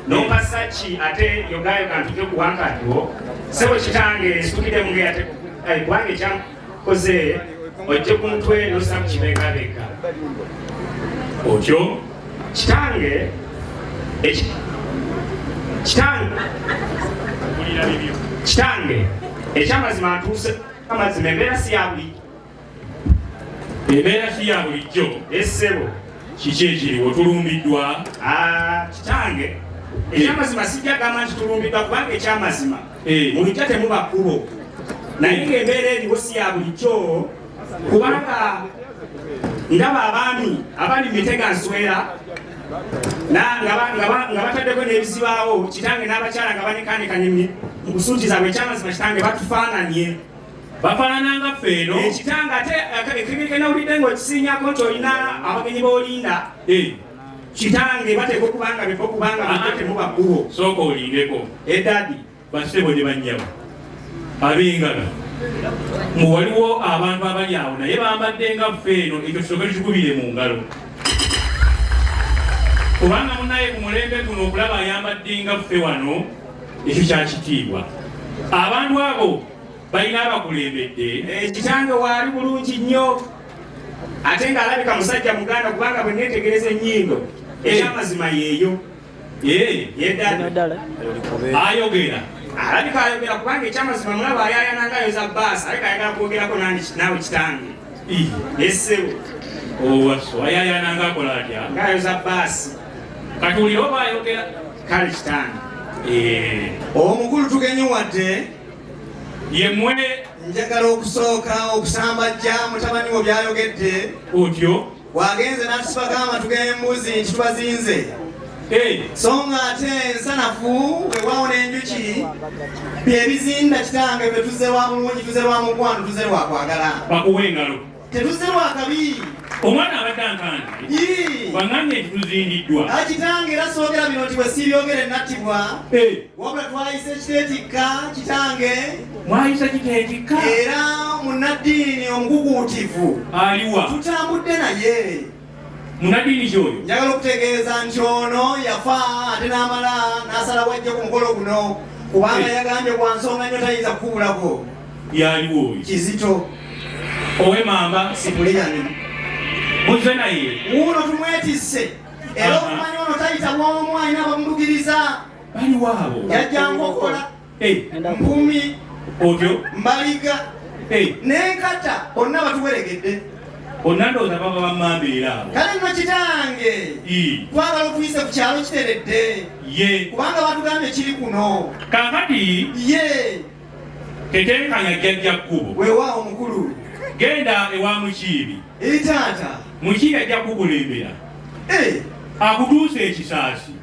nompasa ki ate yogayo kantuke ku wankati wo sebo kitange nsukide munge ate kubanga ekyakoze ojje ku mutwe nosamu kibegabega otyo kitange kitange kitange ekyamazima ntuuse amazima embeera si yabuli embeera si ya bulijjo essebo kiki ekiriwo tulumbiddwa ah, kitange eh. ekyamazima sijja gamba nti tulumbiddwa kubanga ekyamazima eh. mu lujja temuba kkubo naye ng'embeera eriwo si ya bulijjo kubanga ndaba abaami abali mu mitega nswera nga bataddeko n'ebizibaawo kitange n'abakyala nga banekaanekanye mu kusuutiza bwe ekyamazima kitange batufaananye bafaanana nga ffe eno ekitanga ate ekibika nawulidde ng'okisiinyako nti olina abagenyi b'olinda eh. kitange bateeka okuba nga beko kubanga batemuba kkubo sooka olindeko edadi eh, basebo ne bannyabo ab'engalo mu waliwo abantu abali awo naye bambadde nga ffe eno ekyo kisoke tukikubire mu ngalo kubanga munaye ku mulembe guno okulaba ayambadde nga ffe wano ekyo kyakitiibwa abantu abo balina abakulembedde eh, kitange waali bulungi nnyo ate ng'alabika musajja muganda kubanga bwe neetegereza ennyindo eh. ekyamazima yeeyo eh, yeddala ayogera alabika ayogera kubanga ekyamazima mulaba ayayanangayo za baasi alabika ayagala kwogerako naawe kitange nesebo owaso oh, ayayananga akola atya ngayo za baasi kati wulira oba ayogera kale kitange omukulu tugenye wadde yemwe njagala okusooka okusambajja mutabani wo byayogedde otyo wagenze n'atusibako amatu g'embuzi nti tubazinze so nga ate ensanafu wewaawo n'enjuki byebizinda kitange bye tuze wa bulungi tuze lwa mukwano tuze lwakwagala bakuwa engalo Tetuzze lwa kabi. Omwana abadde ankanze. Bang'ambye nti tuzindiddwa. Akitange era soogera bino nti bwe siibyogere nattibwa. Eh. Wabula twayise ekiteetikka kitange. Mwayisa kiteetikka? Era munnaddiini omukukuutivu. Aliwa. Tutambudde naye. munadiini kyoyo njagala okutegeeza nti ono yafa ate n'amala n'asala wajja ku mukolo guno kubanga eh. yagambye kwa nsonga nnyo tayinza kukubulako yaliwo oyo kizito owe mamba sipuleyani muze naye wuuno tumwetisse era okumanya ono tayita bwomu alina bamudugiriza bali waabo yajja nkokola Hey, Mpumi otyo Mbaliga hey. Nenkata onna batuweregedde onna ndowooza baba bamamba era abo kale nno kitange twagala okuyisa ku kyalo kiteredde ye kubanga batugambye kiri kuno kakati ye tetenkanya jjajja kkubo wewaawo mukulu genda ewa mukiibi eri taata mukiibi ajja kukulembera eh. akutuusa ekisaasi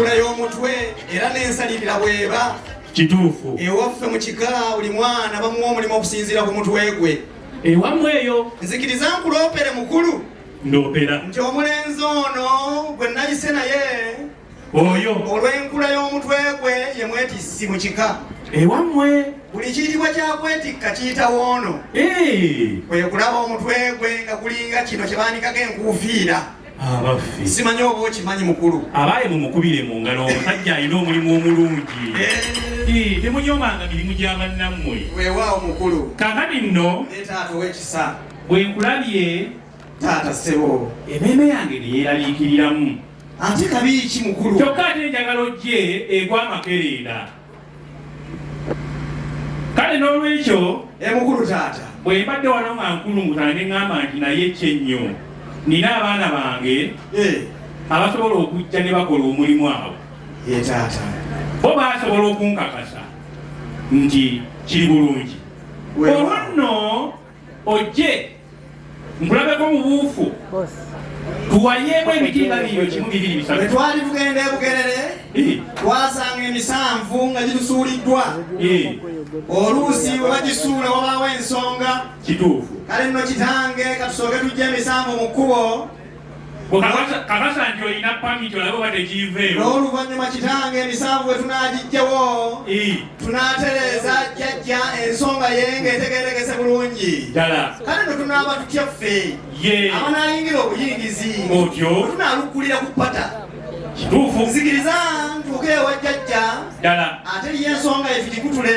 enkula y'omutwe era n'ensalirira bweba kituufu ewaffe mu kika buli mwana bamuwa omulimu okusinziira ku mutwe gwe ewamu eyo nzikiriza nkuloopere mukulu ndoopera nti omulenzi ono gwe nayise naye oyo olw'enkula y'omutwe gwe ye mwetissi mu kika ewammwe buli kiyitibwa kyakwetikka kiyita woono kwe kulaba omutwe gwe nga gulinga kino kye baanikako enkuufiira abaffe simanyi oba okimanyi mukulu abaaye mumukubire mu ngalo omusajja alina omulimu omulungi eh. temunyomanga mirimu gya bannammwe weewaawo mukulu kakati nno taata owekisa bwe nkulabye taata sebo emeeme yange ne yeeraliikiriramu ate kabi ki mukulu kyokka ate enjagala ojje egwa amakerenda kale n'olwekyo emukulu eh, taata bwe mbadde wano nga nkulunguta ne ŋŋamba nti naye kyennyo nina abaana bange eh. abasobola okujja ne bakola omulimu awo eh, taata bo basobola okunkakasa nti kiri bulungi olwo nno ojje nkulabeko mu buufu tuwayeemu emitimba biyo kimu bibiri bisatu bwe twali tugenda e bugerere twasanga emisanvu nga gitusuuliddwa oluusi bwe bagisuula wabaawo ensonga kituufu kale nno kitange katusooke tujja emisanvu mu kkubo kakasa nti olina pamiti olabe oba tegiiveewo n'oluvannyuma kitange emisanvu bwe tunaagiggyewo tunaatereeza jjajja ensonga ye ng'etegeerekese bulungi ddala kale ne tunaaba tutya ffe abanaayingira obuyingizi otyo tunaalukkulira ku pata kituufu nzikiriza ntuuke ewa jjajja ddala ate ye ensonga ye tugikutule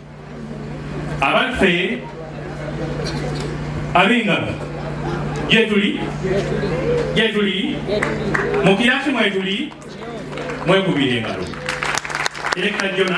abaffe ab'engalo gyetuli gyetuli mu kirasi mwetuli mwekubira engalo erekajona